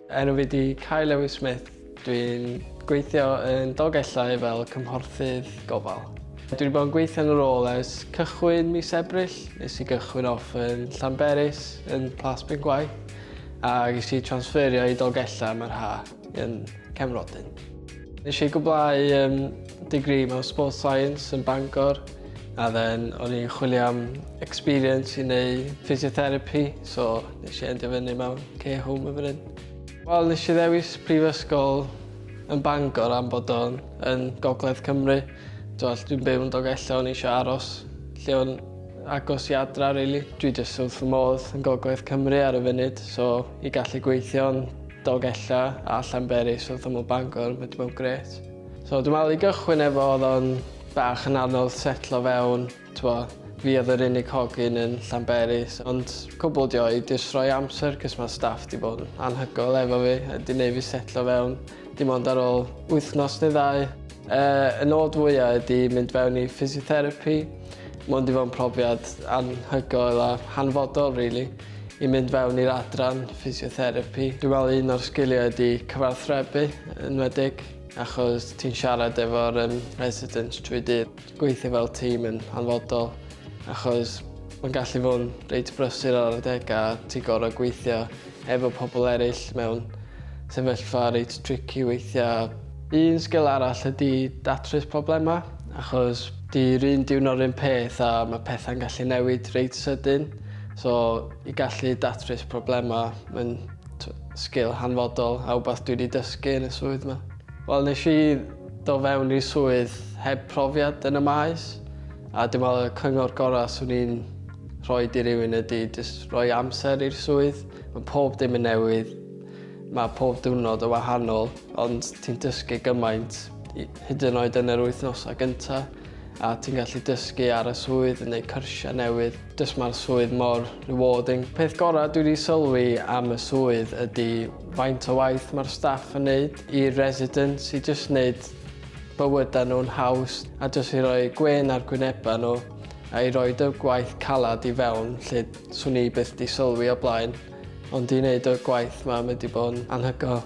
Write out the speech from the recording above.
Enw fi di Kai Lewis Smith. Dwi'n gweithio yn Dolgellau fel cymhorthydd gofal. Dwi wedi bod yn gweithio yn y rôl ers cychwyn mis Ebrill. Nes i gychwyn off yn Llanberis, yn Plas Bengwaith, a ges i transferio i Dolgellau mae'r ha. yn Cefnrodyn. Nes i gwblhau um, degree mewn Sports Science yn Bangor a then o'n i'n chwilio am experience i neu physiotherapy so nes i endio fyny mewn care home yn fan hyn. Wel, nes i ddewis prifysgol yn Bangor am bod o'n yn gogledd Cymru. Dwi'n dwi'n byw yn Dogella, o'n eisiau aros lle o'n agos i adra, really. Dwi jyst wrth fy modd yn gogledd Cymru ar y funud, so i gallu gweithio'n Dolgella a Llanberis wrth ymyl Bangor, mae 'di bod yn grêt. So dwi'n meddwl i gychwyn efo oedd o'n bach yn anodd setlo fewn, twa, fi oedd yr unig hogyn yn Llanberis, ond cwbl dio i jyst rhoi amser cys mae staff 'di bod yn anhygoel efo fi a 'di neud fi setlo fewn dim ond ar ôl wythnos neu ddau. Uh, y nod fwyaf ydy mynd fewn i physiotherapy. Mae'n di fod yn profiad anhygoel a hanfodol, really. i mynd fewn i'r adran physiotherapi. Dwi'n meddwl un o'r sgiliau ydy cyfarthrebu yn wedig achos ti'n siarad efo'r um, residents trwy dydd. Gweithio fel tîm yn hanfodol achos mae'n gallu fod yn reit brysur ar adeg a ti gorau gweithio efo pobl eraill mewn sefyllfa reit tricky weithiau. Un sgil arall ydy datrys problemau achos di'r un diwrnod rhywun peth a mae pethau'n gallu newid reit sydyn. So i gallu datrys problemau mae'n sgil hanfodol a wbath dwi 'di dysgu yn y swydd 'ma. Wel nes i do' fewn i'r swydd heb profiad yn y maes a dwi'n meddwl y cyngor gorau 'swn i'n rhoid i rywun ydi jyst rhoi amser i'r swydd. Mae pob dim yn newydd, mae pob diwrnod yn wahanol ond ti'n dysgu gymaint hyd yn oed yn yr wythnosau gyntaf. a ti'n gallu dysgu ar y swydd yn neud cyrsiau newydd jyst mae'r swydd mor rewarding. Peth gorau dwi wedi sylwi am y swydd ydy faint o waith mae'r staff yn neud i'r residents i jyst neud bywydau nhw'n haws a jyst i roi gwên ar gwynebau nhw a i roi dy gwaith calad i fewn lle swn i byth di sylwi o blaen ond i wneud y gwaith mae wedi bod yn anhygoel.